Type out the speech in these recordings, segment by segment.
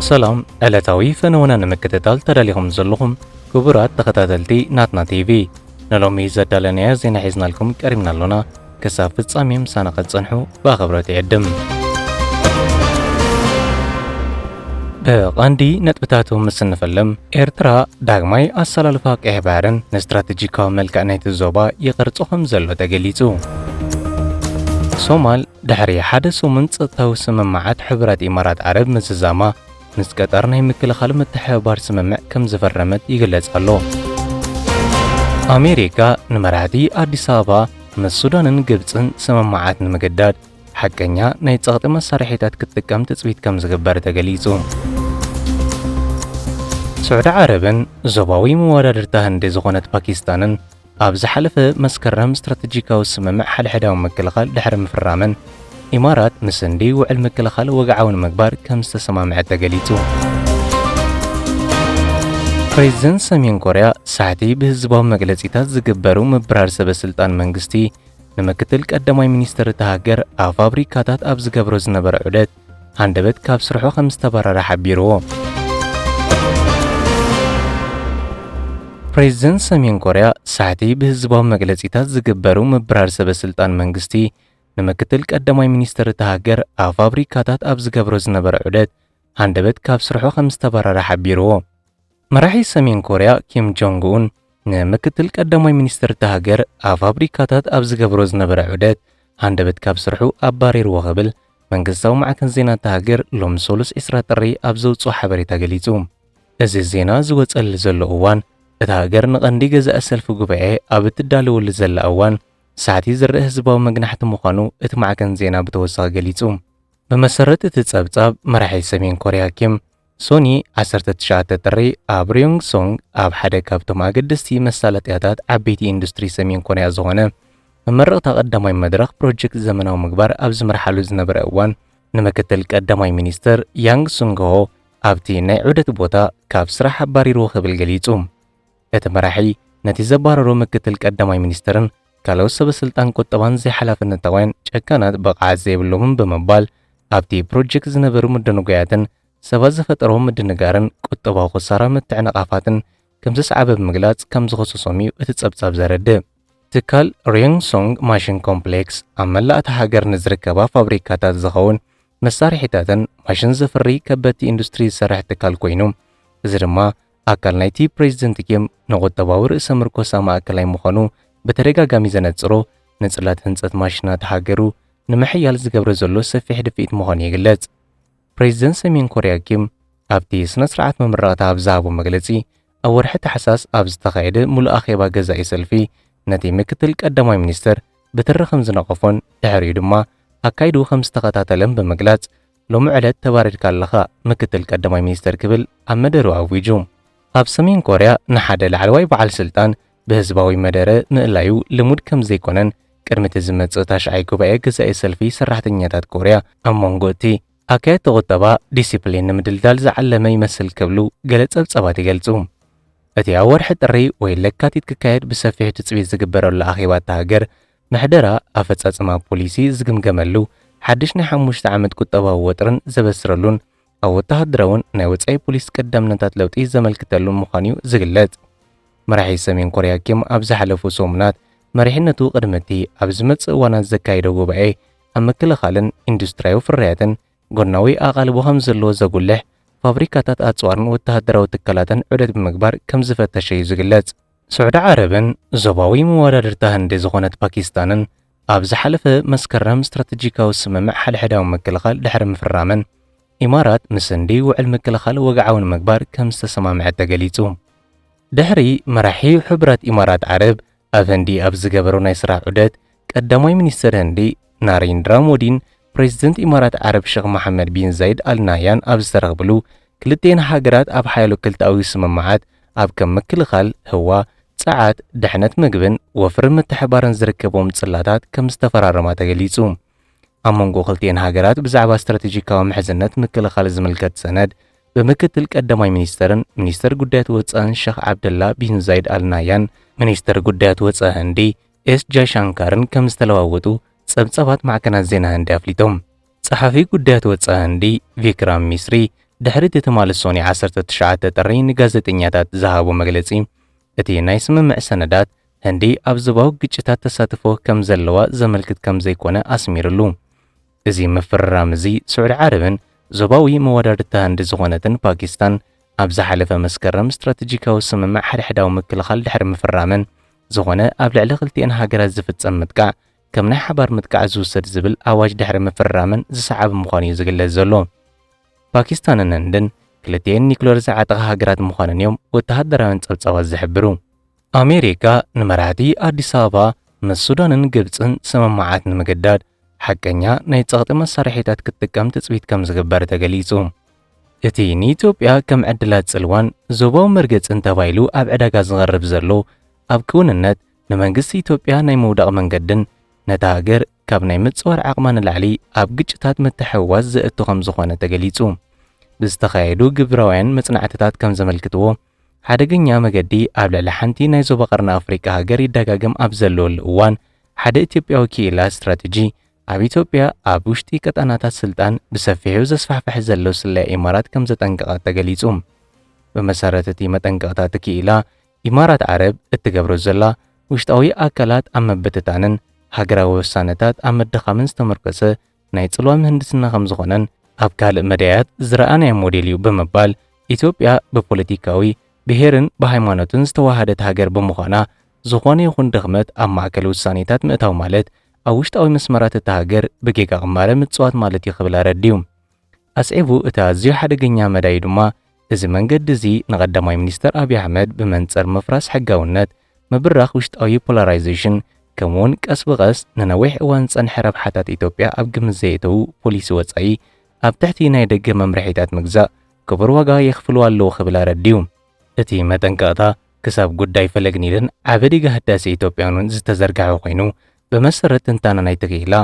ሰላም ዕለታዊ ፈነወና ንምክትታል ተዳሊኹም ዘለኹም ክቡራት ተኸታተልቲ ናትና ቲቪ ንሎሚ ዘዳለናዮ ዜና ሒዝናልኩም ቀሪብና ኣሎና ክሳብ ፍጻሜ ምሳና ኸትጸንሑ ብኣኸብሮት ይዕድም ብቐንዲ ነጥብታቱ ምስ እንፈልም ኤርትራ ዳግማይ ኣሰላልፋ ቀይሕ ባሕርን ንስትራቴጂካዊ መልክዕ ናይቲ ዞባ ይቕርጾ ከም ዘሎ ተገሊጹ ሶማል ድሕሪ ሓደ ሰሙን ጸጥታዊ ስምምዓት ሕቡራት ኢማራት ዓረብ ምዝዛማ፣ ምስ ቀጠር ናይ ምክልኻል ምትሕብባር ስምምዕ ከም ዝፈረመት ይግለጽ ኣሎ። ኣሜሪካ ንመራሕቲ ኣዲስ ኣበባ ምስ ሱዳንን ግብጽን ስምምዓት ንምግዳድ ሓቀኛ ናይ ጸቕጢ መሳርሒታት ክትጥቀም ትጽቢት ከም ዝግበር ተገሊጹ። ስዑዲ ዓረብን ዞባዊ መወዳድርታ ህንዲ ዝኾነት ፓኪስታንን ኣብ ዝሓለፈ መስከረም ስትራተጂካዊ ስምምዕ ሓድሕዳዊ ምክልኻል ድሕሪ ምፍራመን፣ ኢማራት ምስ ህንዲ ውዕል ምክልኻል ወግዓዊ ንምግባር ከም ዝተሰማምዐት ተገሊጹ። ፕሬዝደንት ሰሜን ኮርያ ሳሕቲ ብህዝባዊ መግለጺታት ዝግበሩ ምብራር ሰበስልጣን መንግስቲ ንምክትል ቀዳማይ ሚኒስትር እታ ሃገር ኣብ ፋብሪካታት ኣብ ዝገብሮ ዝነበረ ዑደት ሃንደበት ካብ ስርሑ ከም ዝተባረረ ሓቢሩ። ፕሬዝደንት ሰሜን ኮርያ ሳሕቲ ብህዝባዊ መግለጺታት ዝግበሩ ምብራር ሰበ ስልጣን መንግስቲ ንምክትል ቀዳማይ ሚኒስትር እታ ሃገር ኣብ ፋብሪካታት ኣብ ዝገብሮ ዝነበረ ዑደት ሃንደበት ካብ ስርሑ ከም ዝተባረረ ሓቢሩ። መራሒ ሰሜን ኮርያ ኪም ጆንግ ኡን ንምክትል ቀዳማይ ሚኒስትር እታ ሃገር ኣብ ፋብሪካታት ኣብ ዝገብሮ ዝነበረ ዑደት ሃንደበት ካብ ስርሑ ኣባሪርዎ ክብል መንግስታዊ ማዕከን ዜና እታ ሃገር ሎሚ ሰሉስ 20 ጥሪ ኣብ ዘውፅኦ ሓበሬታ ገሊፁ። እዚ ዜና ዝወፀሉ ዘሎ እዋን እታ ሃገር ንቐንዲ ገዛኢ ሰልፊ ጉባኤ ኣብ እትዳለወሉ ዘላ እዋን ሳዕቲ ዝርእ ህዝባዊ መግናሕቲ ምዃኑ እቲ ማዕከን ዜና ብተወሳኺ ገሊፁ። ብመሰረት እቲ ፀብፃብ መራሒ ሰሜን ኮርያ ኪም ሶኒ ዓሰርተ ትሽዓተ ጥሪ ኣብ ርዮንግሶንግ ኣብ ሓደ ካብቶም ኣገደስቲ መሳለጥያታት ዓበይቲ ኢንዱስትሪ ሰሜን ኮርያ ዝኾነ መመረቕታ ቀዳማይ መድረኽ ፕሮጀክት ዘመናዊ ምግባር ኣብ ዝምርሓሉ ዝነበረ እዋን ንምክትል ቀዳማይ ሚኒስትር ያንግ ሱንግሆ ኣብቲ ናይ ዑደት ቦታ ካብ ስራሕ ኣባሪርዎ ክብል ገሊጹ። እቲ መራሒ ነቲ ዘባረሮ ምክትል ቀዳማይ ሚኒስትርን ካልኦት ሰበስልጣን ቁጠባን ዘይሓላፍነታውያን፣ ጨካናት፣ ብቕዓት ዘይብሎምን ብምባል ኣብቲ ፕሮጀክት ዝነበሩ ምድንጓያትን ሰባት ዝፈጠሮ ምድንጋርን ቁጠባዊ ክሳራ ምትዕንቓፋትን ከምዘስዓበ ብምግላጽ ከምዝኸሰሶም እዩ እቲ ጸብጻብ ዘረድእ። ትካል ርዮንግሶንግ ማሽን ኮምፕሌክስ ኣብ መላእ እታ ሃገር ንዝርከባ ፋብሪካታት ዝኸውን መሳርሒታትን ማሽን ዘፍሪ ከበድቲ ኢንዱስትሪ ዝሰርሕ ትካል ኮይኑ እዚ ድማ ኣካል ናይቲ ፕሬዚደንት ኪም ንቁጠባዊ ርእሰ ምርኮሳ ማእከላይ ምዃኑ ብተደጋጋሚ ዘነጽሮ ንጽላት ህንጸት ማሽናት ሃገሩ ንምሕያል ዝገብረ ዘሎ ሰፊሕ ድፍኢት ምዃኑ ይግለጽ። ፕሬዚደንት ሰሜን ኮርያ ኪም ኣብቲ ስነ ስርዓት መምረቕታ ኣብ ዝሃቦ መግለጺ ኣብ ወርሒ ታሕሳስ ኣብ ዝተኻየደ ምሉእ ኣኼባ ገዛኢ ሰልፊ ነቲ ምክትል ቀዳማይ ሚኒስተር ብትሪ ከም ዝነቐፎን ድሕሪኡ ድማ ኣካይድኡ ከም ዝተኸታተለን ብምግላጽ ሎሚ ዕለት ተባሪርካ ኣለኻ ምክትል ቀዳማይ ሚኒስተር ክብል ኣብ መደርኡ ኣዊጁ። ኣብ ሰሜን ኮርያ ንሓደ ላዕለዋይ በዓል ስልጣን ብህዝባዊ መደረ ምእላዩ ልሙድ ከም ዘይኮነን ቅድሚ እቲ ዝመጽእ ታሽዓይ ጉባኤ ገዛኢ ሰልፊ ሰራሕተኛታት ኮርያ ኣብ መንጎ እቲ ኣካየድቲ ቁጠባ ዲሲፕሊን ንምድልዳል ዝዓለመ ይመስል ክብሉ ገለ ጸብጻባት ይገልጹ። እቲ ኣብ ወርሒ ጥሪ ወይ ለካቲት ክካየድ ብሰፊሑ ትጽቢት ዝግበረሉ ኣኼባ እታ ሃገር ምሕደራ ኣፈፃፅማ ፖሊሲ ዝግምገመሉ፣ ሓድሽ ናይ ሓሙሽተ ዓመት ቁጠባዊ ወጥሪን ዘበስረሉን ኣብ ወተሃደራውን ናይ ወፃኢ ፖሊሲ ቀዳምነታት ለውጢ ዘመልክተሉን ምዃኑ እዩ ዝግለፅ። መራሒ ሰሜን ኮርያ ኪም ኣብ ዝሓለፉ ሰሙናት መሪሕነቱ ቅድሚ እቲ ኣብ ዝመፅእ እዋናት ዘካይዶ ጉባኤ ኣብ ምክልኻልን ኢንዱስትሪያዊ ፍርያትን ጎናዊ ኣቓልቦ ከምዘለዎ ዘጉልሕ ፋብሪካታት ኣፅዋርን ወተሃደራዊ ትካላትን ዑደት ብምግባር ከምዝፈተሸ እዩ ዝግለፅ። ስዑዲ ዓረብን ዞባዊ መወዳድርታ ህንዲ ዝኾነት ፓኪስታንን ኣብ ዝሓለፈ መስከረም ስትራተጂካዊ ስምምዕ ሓድሕዳዊ ምክልኻል ድሕሪ ምፍራመን፣ ኢማራት ምስ ህንዲ ውዕል ምክልኻል ወግዓዊ ንምግባር ከም ዝተሰማምዐት ተገሊጹ። ድሕሪ መራሒ ሕቡራት ኢማራት ዓረብ ኣብ ህንዲ ኣብ ዝገበሮ ናይ ስራሕ ዑደት፣ ቀዳማይ ሚኒስተር ህንዲ ናሬንድራ ሞዲን ፕረዚደንት ኢማራት ዓረብ ሸኽ መሓመድ ቢን ዛይድ ኣል ናህያን ኣብ ዝተረኽብሉ፣ ክልቲኤን ሃገራት ኣብ ሓያሎ ክልተኣዊ ስምምዓት ኣብ ከም ምክልኻል፣ ህዋ፣ ጸዓት፣ ድሕነት መግብን ወፍሪ ምትሕብባርን ዝርከብዎም ጽላታት ከም ዝተፈራረማ ተገሊጹ። ኣብ መንጎ ክልቲኤን ሃገራት ብዛዕባ ስትራቴጂካዊ ምሕዝነት ምክልኻል ዝምልከት ሰነድ ብምክትል ቀዳማይ ሚኒስተርን ሚኒስተር ጉዳያት ወጻእን ሸኽ ዓብደላ ቢን ዛይድ ኣል ናህያን ሚኒስተር ጉዳያት ወጻኢ ህንዲ ኤስ ጃይሻንካርን ከም ዝተለዋወጡ ጸብጻባት ማዕከናት ዜና ህንዲ ኣፍሊጦም። ጸሓፊ ጉዳያት ወጻኢ ህንዲ ቪክራም ሚስሪ ድሕሪ እቲ ትማሊ ሶኒ ዓሰርተ ትሽዓተ ጥሪ ንጋዜጠኛታት ዝሃቦ መግለጺ፣ እቲ ናይ ስምምዕ ሰነዳት፣ ህንዲ ኣብ ዞባዊ ግጭታት ተሳትፎ ከም ዘለዋ ዘመልክት ከም ዘይኮነ ኣስሚርሉ። እዚ ምፍርራም እዚ ስዑዲ ዓረብን ዞባዊ መወዳድርታ ህንዲ ዝኾነትን ፓኪስታን ኣብ ዝሓለፈ መስከረም ስትራተጂካዊ ስምምዕ ሓድሕዳዊ ምክልኻል ድሕሪ ምፍራመን ዝኾነ ኣብ ልዕሊ ክልቲኤን ሃገራት ዝፍጸም ምጥቃዕ ከም ናይ ሓባር ምጥቃዕ ዝውሰድ ዝብል ኣዋጅ ድሕሪ ምፍርራመን ዝሰዓብ ምዃኑ እዩ ዝግለጽ ዘሎ። ፓኪስታንን ህንድን ክልቲኤን ኒኩለር ዝዓጠቓ ሃገራት ምዃነን እዮም ወተሃደራውያን ጸብጻባት ዝሕብሩ። ኣሜሪካ ንመራሕቲ ኣዲስ ኣበባ ምስ ሱዳንን ግብጽን ስምምዓት ንምግዳድ ሓቀኛ ናይ ጸቕጢ መሳርሒታት ክትጥቀም ትጽቢት ከም ዝግበር ተገሊጹ። እቲ ንኢትዮጵያ ከም ዕድላት ጽልዋን ዞባዊ መርገጽን ተባሂሉ ኣብ ዕዳጋ ዝቐርብ ዘሎ ኣብ ክውንነት ንመንግስቲ ኢትዮጵያ ናይ ምውዳቕ መንገድን ነታ ሃገር ካብ ናይ ምጽዋር ዓቕማ ንላዕሊ ኣብ ግጭታት ምትሕውዋስ ዘእቱ ከም ዝኾነ ተገሊጹ። ብዝተኻየዱ ግብራውያን መጽናዕትታት ከም ዘመልክትዎ፣ ሓደገኛ መገዲ ኣብ ልዕሊ ሓንቲ ናይ ዞባ ቀርኒ ኣፍሪቃ ሃገር ይደጋገም ኣብ ዘለወሉ እዋን፣ ሓደ ኢትዮጵያዊ ክኢላ ስትራተጂ፣ ኣብ ኢትዮጵያ ኣብ ውሽጢ ቀጣናታት ስልጣን ብሰፊሑ ዘስፋሕፍሕ ዘሎ ስለያ ኢማራት ከምዘጠንቀቐ ተገሊጹ። ብመሰረት እቲ መጠንቀቕታ እቲ ክኢላ፣ ኢማራት ዓረብ እትገብሮ ዘላ፣ ውሽጣዊ ኣካላት ኣብ ምብትታንን ሃገራዊ ውሳነታት ኣብ ምድኻምን ዝተመርኮሰ ናይ ጽልዋ ምህንድስና ከም ዝኾነን ኣብ ካልእ መዳያት ዝረኣናዮ ሞዴል እዩ ብምባል ኢትዮጵያ ብፖለቲካዊ ብሄርን ብሃይማኖትን ዝተወሃደት ሃገር ብምዃና ዝኾነ ይኹን ድኽመት ኣብ ማእከል ውሳኔታት ምእታው ማለት ኣብ ውሽጣዊ መስመራት እታ ሃገር ብጌጋ ቅማረ ምጽዋት ማለት እዩ ክብል ኣረዲኡ። ኣስዒቡ እቲ ኣዝዩ ሓደገኛ መዳዩ ድማ እዚ መንገዲ እዚ ንቀዳማይ ሚኒስተር ኣብይ ኣሕመድ ብመንጽር ምፍራስ ሕጋውነት ምብራኽ ውሽጣዊ ፖላራይዜሽን፣ ከምኡ'ውን ቀስ ብቐስ ንነዊሕ እዋን ዝጸንሐ ረብሓታት ኢትዮጵያ ኣብ ግምት ዘየእተዉ ፖሊሲ ወጻኢ ኣብ ትሕቲ ናይ ደገ መምርሒታት ምግዛእ ክቡር ዋጋ የኽፍሉ ኣለዉ ክብል ኣረዲኡ። እቲ መጠንቀቕታ ክሳብ ጉዳይ ፈለግ ኒልን ዓቢ ዲጋ ህዳሴ ኢትዮጵያን እውን ዝተዘርግሐ ኮይኑ፣ ብመሰረት ትንታነ ናይቲ ክኢላ፣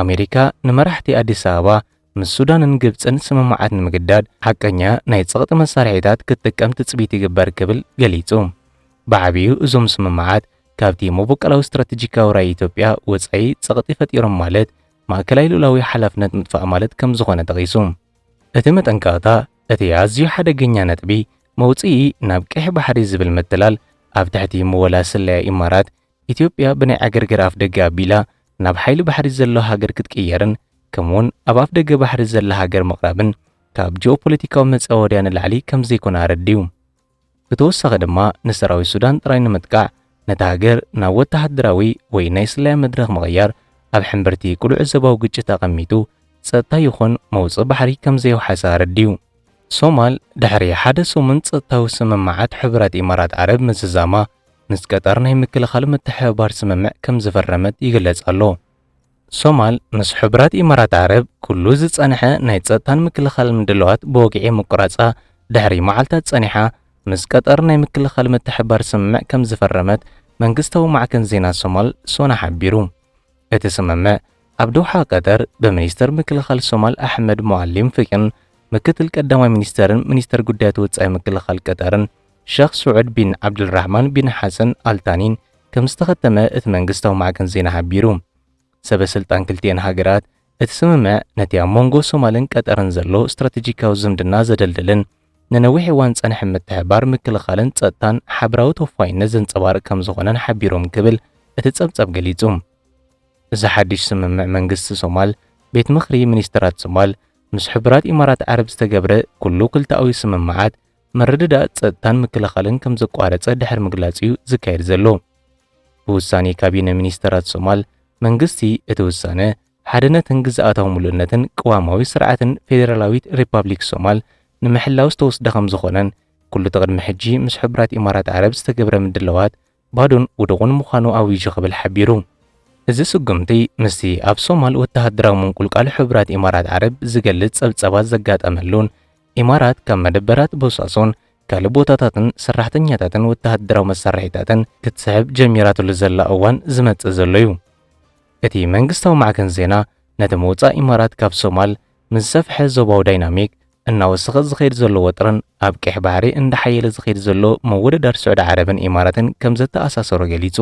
ኣሜሪካ ንመራሕቲ ኣዲስ ኣበባ ምስ ሱዳንን ግብጽን ስምምዓት ንምግዳድ ሓቀኛ ናይ ጸቕጢ መሳርሒታት ክትጥቀም ትጽቢት ይግበር ክብል ገሊጹ። ብዓቢኡ እዞም ስምምዓት ካብቲ መቦቀላዊ ስትራተጂካዊ ራኢ ኢትዮጵያ ወጻኢ ጸቕጢ ፈጢሮም ማለት ማእከላይ ልኡላዊ ሓላፍነት ምጥፋእ ማለት ከም ዝኾነ ጠቒሱ። እቲ መጠንቀቕታ እቲ ኣዝዩ ሓደገኛ ነጥቢ መውጽኢ ናብ ቀይሕ ባሕሪ ዝብል ምትላል ኣብ ትሕቲ ምወላ ስለያ ኢማራት ኢትዮጵያ ብናይ ዕግርግር ኣፍደገ ኣቢላ ናብ ሓይሊ ባሕሪ ዘለዋ ሃገር ክትቅየርን ከምኡ'ውን ኣብ ኣፍደገ ባሕሪ ዘላ ሃገር ምቕራብን ካብ ጂኦፖለቲካዊ መጻወድያ ንላዕሊ ከምዘይኮነ ኣረዲኡ። ብተወሳኺ ድማ ንሰራዊት ሱዳን ጥራይ ንምጥቃዕ ነታ ሃገር ናብ ወተሃደራዊ ወይ ናይ ስለያ መድረኽ ምቕያር ኣብ ሕምብርቲ ቅሉዕ ዞባዊ ግጭት ኣቐሚጡ ጸጥታ ይኹን መውጽኢ ባሕሪ ከምዘየውሓሰ ኣረዲኡ። ሶማል ድሕሪ ሓደ ሰሙን ጸጥታዊ ስምምዓት ሕቡራት ኢማራት ዓረብ ምዝዛማ፣ ምስ ቀጠር ናይ ምክልኻል ምትሕብባር ስምምዕ ከም ዝፈረመት ይግለጽ ኣሎ። ሶማል ምስ ሕቡራት ኢማራት ዓረብ ኩሉ ዝጸንሐ ናይ ጸጥታን ምክልኻልን ምድላዋት ብወግዒ ምቁራጻ ድሕሪ መዓልታት ጸኒሓ ምስ ቀጠር ናይ ምክልኻል ምትሕብባር ስምምዕ ከም ዝፈረመት መንግስታዊ ማዕከን ዜና ሶማል ሶና ሓቢሩ። እቲ ስምምዕ ኣብ ዶሓ ቀጠር ብሚኒስተር ምክልኻል ሶማል ኣሕመድ ሙዓሊም ፍቂን ምክትል ቀዳማይ ሚኒስተርን ሚኒስተር ጉዳያት ወጻኢ ምክልኻል ቀጠርን ሸኽ ስዑድ ቢን ዓብደልራህማን ቢን ሓሰን ኣል ታኒን ከም ዝተኸተመ እቲ መንግስታዊ ማዕከን ዜና ሓቢሩ። ሰበ ስልጣን ክልቲኤን ሃገራት፣ እቲ ስምምዕ ነቲ ኣብ መንጎ ሶማልን ቀጠርን ዘሎ ስትራተጂካዊ ዝምድና ዘደልድልን ንነዊሕ እዋን ዝጸንሐ ምትሕብባር ምክልኻልን ጸጥታን ሓብራዊ ተወፋይነት ዘንጸባርቕ ከም ዝኾነን ሓቢሮም ክብል እቲ ጸብጻብ ገሊጹ። እዚ ሓድሽ ስምምዕ መንግስቲ ሶማል፣ ቤት ምኽሪ ሚኒስተራት ሶማል፣ ምስ ሕቡራት ኢማራት ዓረብ ዝተገብረ ኩሉ ክልተኣዊ ስምምዓት ምርድዳእ ጸጥታን ምክልኻልን ከም ዘቋረጸ ድሕሪ ምግላጽ እዩ ዝካየድ ዘሎ። ብውሳኔ ካቢነ ሚኒስተራት ሶማል፣ መንግስቲ እቲ ውሳነ፣ ሓድነትን ግዝኣታዊ ምሉእነትን ቅዋማዊ ስርዓትን ፌደራላዊት ሪፓብሊክ ሶማል ንምሕላው ዝተወስደ ከምዝኾነን ኩሉ'ቲ ቅድሚ ሕጂ ምስ ሕቡራት ኢማራት ዓረብ ዝተገብረ ምድላዋት ባዶን ውዱቕን ምዃኑ ኣዊጁ ክብል ሓቢሩ። እዚ ስጉምቲ ምስቲ ኣብ ሶማል ወተሃደራዊ ምንቁልቋል ሕቡራት ኢማራት ዓረብ ዝገልጽ ጸብጻባት ዘጋጠመሉን ኢማራት ካብ መደበራት ቦሳሶን ካልእ ቦታታትን ሰራሕተኛታትን ወተሃደራዊ መሳርሒታትን ክትስሕብ ጀሚራትሉ ዘላ እዋን ዝመጽእ ዘሎ'ዩ። እቲ መንግስታዊ ማዕከን ዜና ነቲ ምውጻእ ኢማራት ካብ ሶማል ንዝሰፍሐ ዞባዊ ዳይናሚክ እናወሰኸ ዝኸይድ ዘሎ ወጥርን ኣብ ቀይሕ ባሕሪ እንዳሓየለ ዝኸይድ ዘሎ ምውድዳር ስዑዲ ዓረብን ኢማራትን ከምዘተኣሳሰሮ ገሊጹ።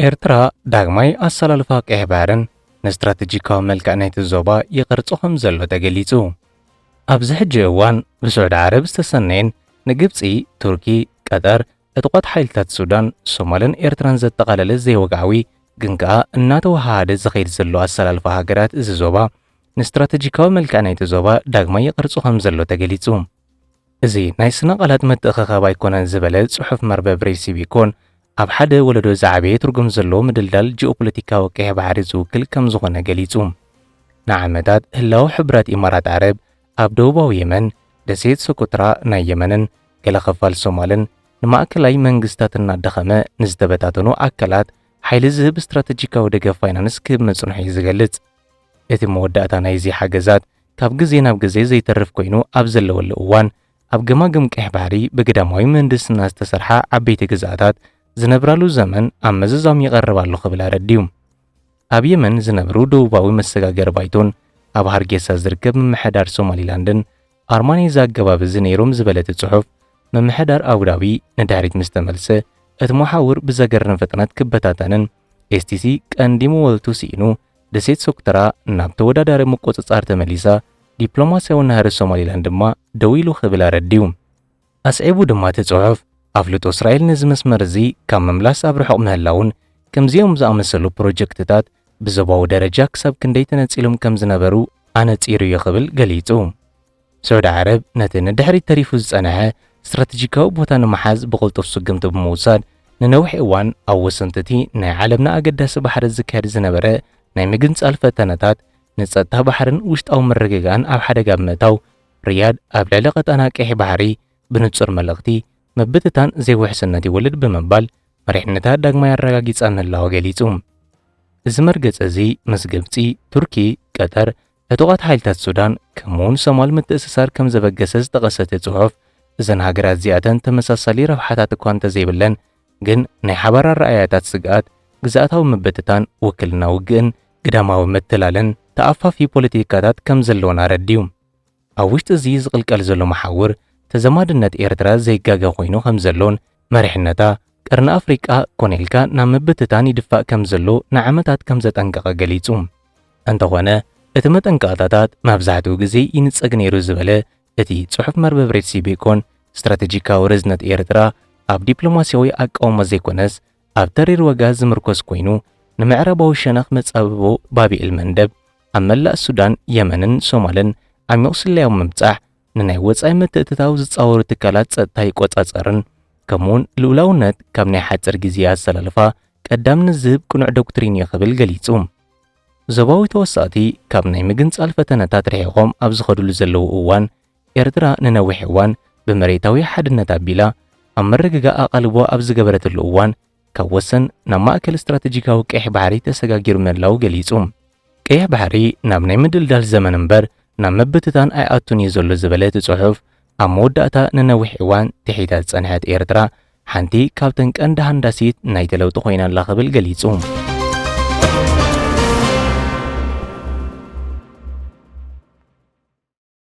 ኤርትራ ዳግማይ ኣሰላልፋ ቀይሕ ባሕርን ንስትራተጂካዊ መልክዕ ናይቲ ዞባ ይቐርጾ ከምዘሎ ተገሊጹ። ኣብዚ ሕጂ እዋን ብስዑዲ ዓረብ ዝተሰነየን ንግብጺ፣ ቱርኪ፣ ቀጠር፣ ዕጡቓት ሓይልታት ሱዳን፣ ሶማልን ኤርትራን ዘጠቓለለ ዘይወግዓዊ ግን ከኣ እናተወሃሃደ ዝኸይድ ዘሎ ኣሰላልፋ ሃገራት እዚ ዞባ ንስትራተጂካዊ መልክዕ ናይቲ ዞባ ዳግማይ ይቐርጾ ከም ዘሎ ተገሊጹ። እዚ ናይ ስነ-ቓላት ምትእኽኻብ ኣይኮነን ዝበለ ጽሑፍ መርበብ ሬሲቢኮን፣ ኣብ ሓደ ወለዶ ዝዓበየ ትርጉም ዘለዎ ምድልዳል ጂኦፖለቲካዊ ቀይሕ ባሕሪ ዝውክል ከም ዝኾነ ገሊጹ። ንዓመታት ህላወ ሕቡራት ኢማራት ዓረብ ኣብ ደቡባዊ የመን፣ ደሴት ሶኮትራ ናይ የመንን ገለ ኽፋል ሶማልን፣ ንማእከላይ መንግስታት እናዳኸመ ንዝተበታተኑ ኣካላት ሓይሊ ዝህብ ስትራተጂካዊ ደገፍ ፋይናንስ ክህብ ምጽንሑ'ዩ ዝገልጽ። እቲ መወዳእታ ናይዚ ሓገዛት ካብ ግዜ ናብ ግዜ ዘይተርፍ ኮይኑ ኣብ ዘለወሉ እዋን ኣብ ገማግም ቀይሕ ባሕሪ ብግዳማዊ ምህንድስና ዝተሰርሓ ዓበይቲ ግዝኣታት ዝነብራሉ ዘመን ኣብ መዘዛም ይቐርብ ኣሎ ክብል ኣረድዩ። ኣብ የመን ዝነብሩ ደቡባዊ መሰጋገሪ ባይቶን ኣብ ሃርጌሳ ዝርከብ ምምሕዳር ሶማሊላንድን ኣርማ ናይዚ ኣገባብ እዚ ነይሮም ዝበለቲ ጽሑፍ ምምሕዳር ኣቡዳቢ ንድሕሪት ምስ ተመልሰ እቲ መሓውር ብዘገርም ፍጥነት ክበታተንን ኤስቲሲ ቀንዲ መወልቱ ስኢኑ ደሴት ሶክትራ ናብ ተወዳዳሪ ምቁጽጻር ተመሊሳ፣ ዲፕሎማስያዊ ናህሪ ሶማሊላንድ ድማ ደው ኢሉ ክብል ኣረዲኡ። ኣስዒቡ ድማ እቲ ጽሑፍ፣ ኣፍልጦ እስራኤል ነዚ መስመር እዚ ካብ ምምላስ ኣብ ርሑቕ ምህላዉን ከምዚኦም ዝኣመሰሉ ፕሮጀክትታት ብዞባዊ ደረጃ ክሳብ ክንደይ ተነጺሎም ከም ዝነበሩ ኣነጺሩ እዩ ክብል ገሊጹ። ስዑዲ ዓረብ ነቲ ንድሕሪት ተሪፉ ዝጸንሐ ስትራተጂካዊ ቦታ ንምሓዝ ብቕልጡፍ ስጕምቲ ብምውሳድ፣ ንነዊሕ እዋን ኣብ ወሰንቲ እቲ ናይ ዓለምና ኣገዳሲ ባሕሪ ዝካየድ ዝነበረ ናይ ምግንጻል ፈተነታት፣ ንጸጥታ ባሕርን ውሽጣዊ ምርግጋእን ኣብ ሓደጋ ብምእታው፣ ሪያድ ኣብ ልዕሊ ቀጣና ቀይሕ ባሕሪ ብንጹር መልእኽቲ፣ ምብትታን ዘይውሕስነት ይወልድ ብምባል መሪሕነታ ዳግማይ ኣረጋጊጻ ምህላዋ ገሊጹ። እዚ መርገጺ እዚ ምስ ግብጺ፣ ቱርኪ፣ ቀጠር፣ ዕጡቓት ሓይልታት ሱዳን ከምኡ'ውን ሶማል ምትእስሳር ከም ዘበገሰ ዝጠቐሰ እቲ ጽሑፍ፣ እዘን ሃገራት እዚኣተን ተመሳሳሊ ረብሓታት እኳ እንተዘይብለን ግን ናይ ሓባር ኣረኣእያታት ስግኣት፣ ግዝኣታዊ ምብትታን፣ ውክልና ውግእን ግዳማዊ ምትላልን ተኣፋፊ ፖለቲካታት ከም ዘለወን ኣረዲኡ። ኣብ ውሽጢ እዚ ዝቕልቀል ዘሎ መሓውር ተዛማድነት ኤርትራ ዘይጋገ ኮይኑ ከም ዘሎን መሪሕነታ፣ ቀርኒ ኣፍሪቃ ኮነ ኢልካ ናብ ምብትታን ይድፋእ ከም ዘሎ ንዓመታት ከም ዘጠንቀቐ ገሊጹ። እንተኾነ እቲ መጠንቀቕታታት መብዛሕትኡ ግዜ ይንጸግ ነይሩ ዝበለ እቲ ጽሑፍ መርበብ ሬድሲ ቤኮን፣ ስትራተጂካዊ ርዝነት ኤርትራ ኣብ ዲፕሎማስያዊ ኣቃውማ ዘይኮነስ ኣብ ተሪር ዋጋ ዝምርኮስ ኮይኑ፣ ንምዕራባዊ ሸነኽ መጻብቦ ባብኤል መንደብ ኣብ መላእ ሱዳን፣ የመንን ሶማልን ዓሚቝ ስለያዊ ምብጻሕ፣ ንናይ ወጻኢ ምትእትታው ዝጻወሩ ትካላት ጸጥታ ይቆጻጸርን ከምኡውን ልኡላውነት ካብ ናይ ሓጽር ግዜ ኣሰላልፋ ቀዳምነት ዝህብ ቅኑዕ ዶክትሪን እዩ ክብል ገሊጹ። ዞባዊ ተወሳእቲ ካብ ናይ ምግንጻል ፈተነታት ርሒቖም ኣብ ዝኸድሉ ዘለዉ እዋን ኤርትራ ንነዊሕ እዋን ብመሬታዊ ሓድነት ኣቢላ ኣብ ምርግጋእ ኣቓልቦ ኣብ ዝገበረትሉ እዋን ካብ ወሰን ናብ ማእከል ስትራተጂካዊ ቀይሕ ባሕሪ ተሰጋጊሩ ምህላዉ ገሊጹ። ቀይሕ ባሕሪ ናብ ናይ ምድልዳል ዘመን እምበር ናብ ምብትታን ኣይኣቱን እዩ ዘሎ ዝበለ እቲ ጽሑፍ፣ ኣብ መወዳእታ ንነዊሕ እዋን ትሒታ ዝጸንሐት ኤርትራ ሓንቲ ካብተን ቀንዲ ሃንዳሲት ናይቲ ለውጢ ኮይና ኣላ ክብል ገሊጹ።